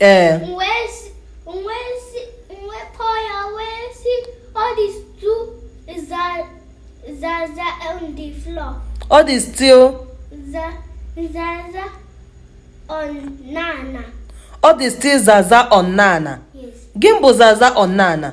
ee ọ dị still ọ dị still zaza on n'ana gịnị bụ zaza on n'ana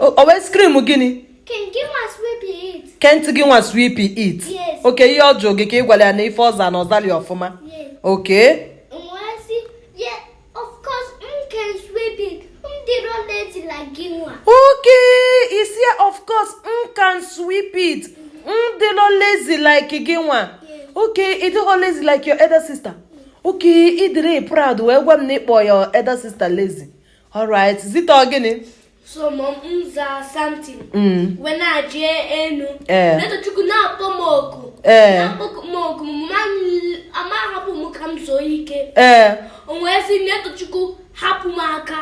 o wee scream gịnị can't gị nwa sweep it okay ihe ọ jụrụ gị ka ị gwara ya na ife ọ za na ọ zali ọfụma okay okay ị sị of course m can sweep it m dịrọ lazy like gị nwa okay ị dịghọ lazy like your elder sister okay ị dịrị proud wee gwa m na ị kpọ your elder sister lazy alright zite ọ gịnị so mom m za something m wee na-eje enu eh. netochukwu na-akpọ m oku eh. na-akpọ m oku ọ ma hapụ m ka m zuo ike eh. o wee sị netochukwu hapụ m aka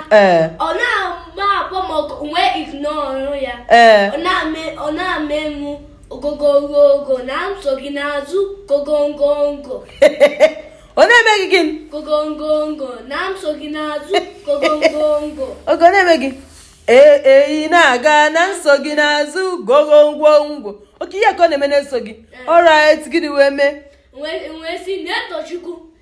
ọ na-agba akpọ m oku wee ignore ya ọ na-eme mụ ogogongo na-eso gị n'azụ gogongongo ọ na-eme gị gịnị gogongongo na-eso gị n'azụ gogongongo okay ọ na-eme gị ee ị na-aga na-eso gị n'azụ gogongwongwo okay ya ka ọ na-eme na-eso gị alright gịnị wee mee wee sị netochukwu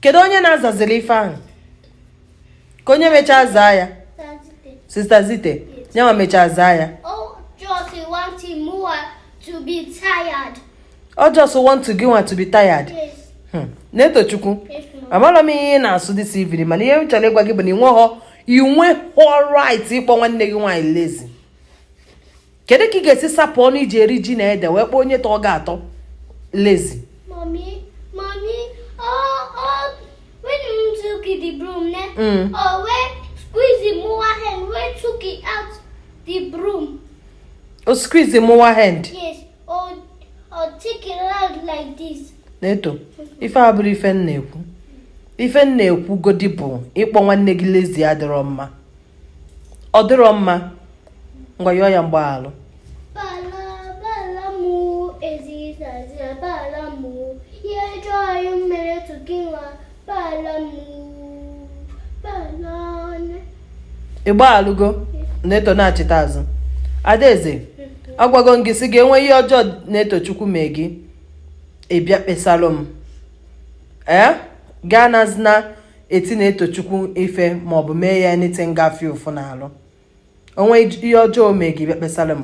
kedu onye na-azazili ife ahụ ka onye mechaa zaa ya sister zite nyanwa mechaa zaa ya ọ just want gị nwa to be tired hmm. netochukwu amarọ m ihe ị na-asụ this evening mana ihe m chọrọ ịgwa gị bụ na ị nweghọ ị nweghọ right ịkpọ nwanne gị nwaanyị lazy kedu ka ị ga-esi sapụ ọnụ i ji eri ji na ede wee kpọọ onye tọọ gị atọ lazy o squeeze mụwa hand neto ife a abụrọ ife m na-ekwu ife m na-ekwu godi bụ ịkpọ nwanne gị lazy adịrọ mma ọ dịrọ mma ngwa yọọ ya mgbaghalụ ị gbaghalụgo neto na-achịta azụ adaeze agwago m gị sị gị e nwee ihe ọjọọ netochukwu mee gị ị bịa kpesalụ m ee gaa na zina eti Netochukwu ife ma ọ bụ mee ya anything ga-afụ ụfụ n'alụ o nwee ihe ọjọọ o mee gị ị bịa kpesalụ m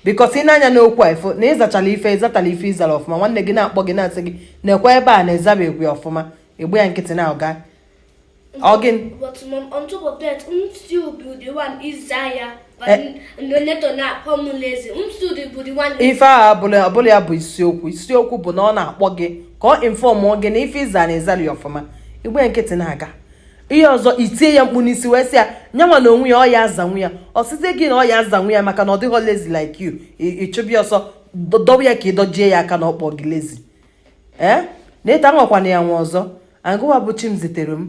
because i nee anya n'okwu a ị fụ na ịzachala ife ịzatala ife ịzara ọfụma nwanne gị na-akpọ gị na-asị gị nekwa ebe a na ịzabeghị ọfụma ị gba ya nkịtị na-aga ọgịn But mom, on top of that, would still be the one Isaiah? ife a abụrọ ya bụ isiokwu isiokwu bụ na ọ na-akpọ gị ka ọ inform gị na ife ịza na ịzarọ ọfụma ị gba ya nkịtị na-aga ihe ọzọ i tie ya mkpu n'isi wee sị ya na yanwa na onwe ya ọ ya-azanwu ya ọ sịzie gị na ọ ya-azanwu ya maka na ọ dịghọ lazy like you ị chụba ya ọsọ dọwa ya ka ị dọjie ya aka na ọ kpọ gị lazy ee eh? na ịta anwakwana ya anwa ọzọ agụwa bụ Chimziterem